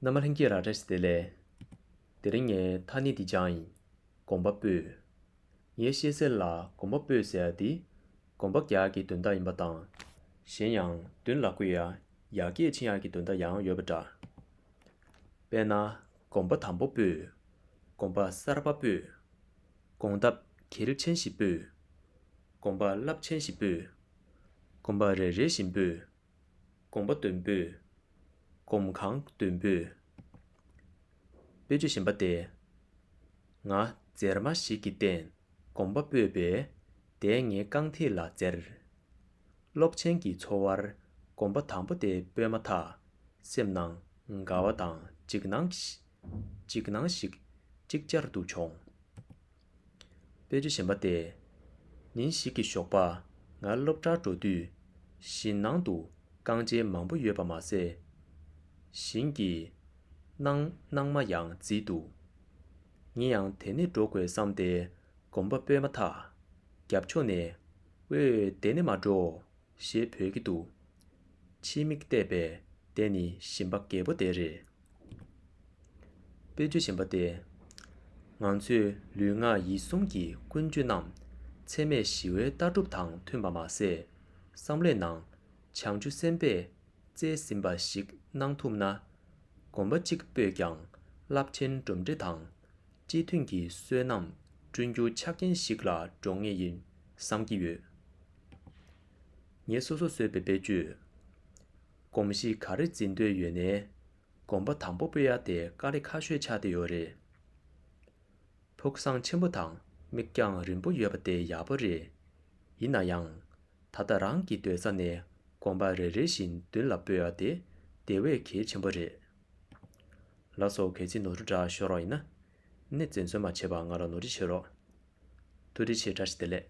ན་མ་ལྷན་སྐྱེས་ར་རེ་སི་དེ་ལས། དེ་རིང་ངས་ཐ་སྙད་འདི་སྦྱང་ཡིན། གོམ་པ་སྤོས། ངས་ཤེས་གསལ་ལ་གོམ་པ་སྤོས་ཟེར་བ་འདི། གོམ་པ་རྒྱག་གི་དོན་དག་ཡིན་པ་དང། གཞན་ཡང་བདུན་ལ་ཀུ་ཡ། ཡ་སྐད་ཆིང་ཡ་གི་དོན་དག་ཡང་ཡོད་པ་འདྲ། དཔེར་ན། གོམ་པ་དམ་པོ་སྤོས། གོམ་པ་གསར་པ་སྤོས། གོང་ལྡབ་གལ་ཆེན་ཞིག་སྤོས། གོམ་པ་རླབས་ཆེན་ཞིག་སྤོས། གོམ་པ་རེ་རེ་བཞིན་སྤོས། དགོངས་པ་བདུན་པོས། སྒོམ་གང་བདུན་པོས། དཔེ་བརྗོད་བཞིན་པ་སྟེ། ང། མཛེར་མ་ཞིག་གི་སྟེང་སྒོམ་པ་སྤོས་པས་དེས་ངའི་རྐང་མཐིལ་ལ་མཛེར། སློབ་ཆེན་གྱི་འཚོ་བར་སྒོམ་པ་དང་པོ་དེ་སྤོས་མ་ཐག་སེམས་ནང་དགའ་བ་དང་འཇིགས་སྣང་ཞིག་ཅིག་ཅར་དུ་བྱུང། དཔེ་ཆ་གཞན་པ་བལྟས། ཉིན་ཞིག་གི་ཞོགས་པ། ང་སློབ་གྲྭར་འགྲོ་དུས། བཞིན་ནང་དུ་རྐང་རྗེས་མང་པོ་ཡོད་པ་མ་ཟད། བཞིན་གྱི། སྣང། སྣང་མ་ཡང་བརྫིས་འདུག། ངེད་ཡང་དེ་ནས་འགྲོ་དགོས་བསམ་སྟེ་གོམ་པ་སྤོས་མ་ཐག། རྒྱབ་ཕྱོགས་ནས། ཨོའོ་དེ་ནས་མ་འགྲོ། ཞེས་བོས་ཀྱི་འདུག། ཕྱིའི་མིག་བལྟས་པས་དེ་ནི་ཞིམ་པ་རྒད་པོ་དེ་རེད། དཔེ་ཆུ་ཞིམ་པ་དེ། ང་ཚོས་ལུས་ངག་ཡིད་གསུམ་གྱི་ཀུན་སྤྱོད་རྣམས་འཚེ་མེད་ཞི་བའི་ལྟ་གྲུབ་དང་མཐུན་པ་མ་ཟད། བསམ་བློའི་ནང་བྱང་ཆུ་སེམས་དཔས་བཙལ་ཟིན་པ་ཞིག་གནང་ཐུབ་ན། གོམ་པ་གཅིག་སྤོས་ཀྱང་རླབས་ཆེན་གྲུབ་འབྲས་དང། སྤྱི་མཐུན་གྱི་བསོད་ནམས་བསྐྲུན་རྒྱུ་ཆ་རྐྱེན་ཞིག་ལ་འགྲོ་ངེས་ཡིན་བསམ་གྱི་ཡོད། ངས་སོ་སོར་བཟོས་པའི་དཔེ་བརྗོད། གོམས་གཤིས་ག་རེ་འཛིན་འདོད་ཡོད་ནའི། གོམ་པ་དང་པོ་སྤོས་ཡག་དེ་དཀའ་ལས་ཁ་ཤོས་ཆགས་ཏེ་ཡོད་རེད། ཕུགས་བསམ་ཆེན་པོ་དང་མིག་རྒྱང་རིང་པོ་ཡོད་པ་དེ་ཡག་པོ་རེད། ཡིན་ན་ཡང། ད་ལྟ་རང་གི་སྡོད་ས་ནས་གོམ་པ་རེ་རེ་བཞིན་མདུན་ལ་སྤོས་ཡག་དེ་དེ་བས་གལ་ཆེན་པོ་རེད། ལ་སོགས་གལ་ཆེ་ནོར་བུ་འདྲ་ཤོར་བ་ཡིན་ན། ནི་བཙན་གསོལ་མ་བྱས་པར་ང་ལ་ནོར་འཁྲི་བྱེད་རོགས། ཐུགས་རྗེ་ཆེ་བཀྲ་ཤིས་བདེ་ལེགས།